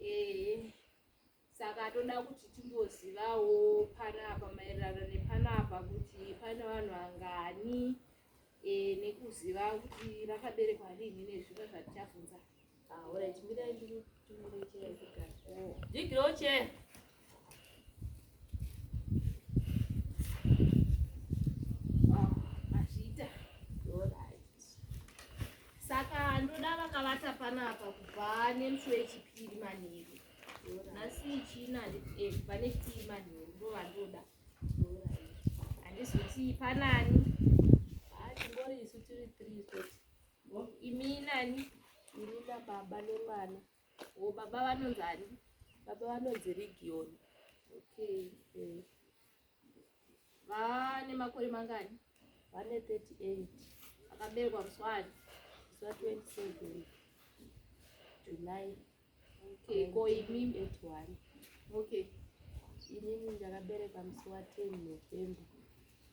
Ehe saka toda kuti timbozivawo panapa maererano nepanapa kuti pane vanhu vangani e, nekuziva kuti rakaberekwa rinhi nezvimwe zvatichabvunza. Ah, alright, mirai ndikutumire chair kugara. Oh. Jigiro chair. akavata panapa kubva nemusi wechipiri manheru nhasi ichina handiti eh, pane chipiri manheru ndo vandoda handizoti panani tingori isu tiri three imi nani imi nababa nemwana Oh, baba vanonzi ani? Baba vanonzi Region. Okay. Eh. Vane makore mangani? Vane 38. Akaberekwa muswani. Muswa 27. July. Okay, ko imi 81. Okay. Inini ndakaberekwa musi wa 10 November.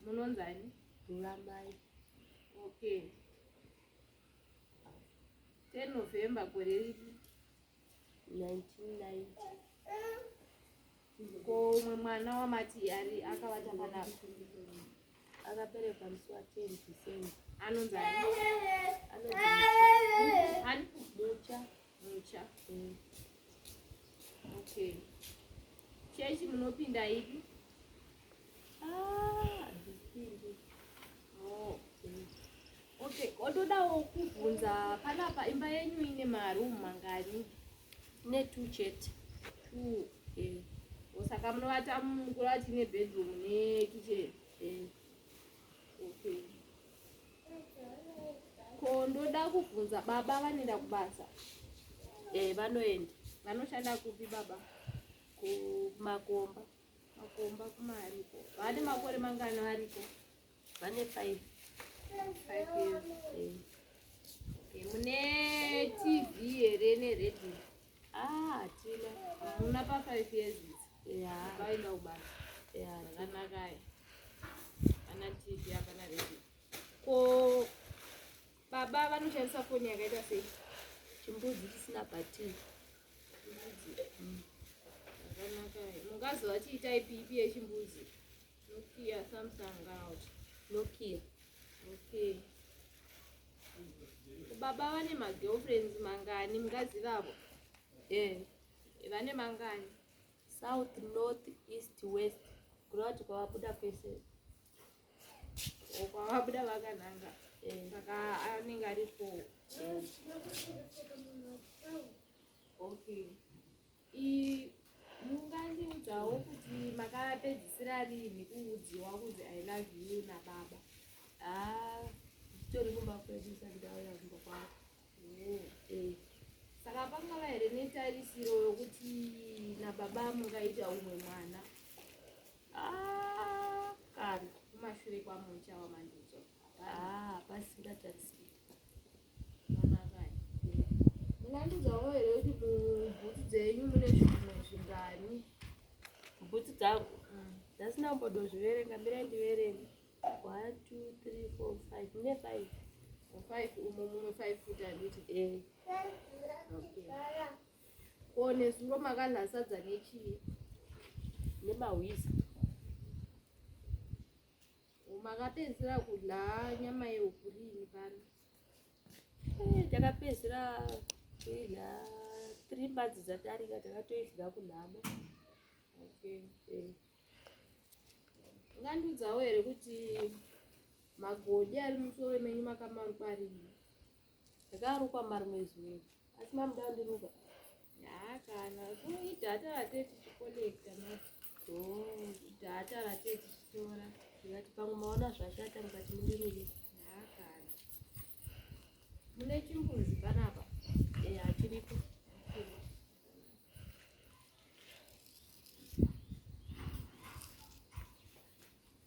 Munonzi ani? Ruramai. Okay. 10 November gore riri 1990 ko umwe mwana wamati ari akavata panapa akaberekwa musi wa 10 December anonzi anonzi mucha mucha mm. okay chechi munopinda ipi ah, oh, okay otodawo kubvunza panapa imba yenyu ine maroom mangani ne two chete two eh. osaka munovata mukura tine bedroom ne kitchen eh. ko ndoda kubvunza baba vanoenda kubasa eh vanoenda vanoshanda kupi baba kumakomba makomba kumariko vane makore mangani variko vane five five years eh. okay. mune tv here neredio Ah, Tile. Una pa 5 years. Yeah. Baila ubasa. Yeah. Zvakanakaye. Ana TV hapana redio. Ko baba vanoshandisa foni yakaita sei? Chimbudzi chisina bhatiri. Chimbudzi. Mm. Zvakanakaye. Mungazova chiitai pipi yechimbudzi. Nokia Samsung out. Nokia. Okay. baba vane magirlfriends mangani mungazivavo eh, vane mangani south north east west kureva kuti kwavabuda kwese kwavabuda vakananga eh. saka anenge aripo okay mungandiudzawo kuti makapedzisira rinhi kuudziwa kunzi i love you nababa ah, tori kumba kwedu sandauya kumba kwavo oh, eh. saka pangava here netarisiro yokuti nababa mungaita umwe mwana ah, kana kumashure kwamucha wamandidzo ah, pasingatarisiro bhutsu dzangu mm. dzasina kumbodozviverenga mirai ndiverenge one two three four five ne five five umo mumwe five futi anditi eh. ko nezuro makanhasadza nechii nemahwiza makapedzisira kudya nyama yehuku riini pano eh, takapedzisira kuidya tiri mbadzi dzatarika takatoidya kunhamo okay. Eh. ungandiudzawo here kuti magodhi ari musoro menyu makamarukwarii ndakarukwa marume zuva asi mamuda kundiruka hakana kuita atarate tichikolekta maita atarate tichitora ndikati pamwe maona zvashata mukati mundirure hakana mune chimbuzi panapa eya chiripo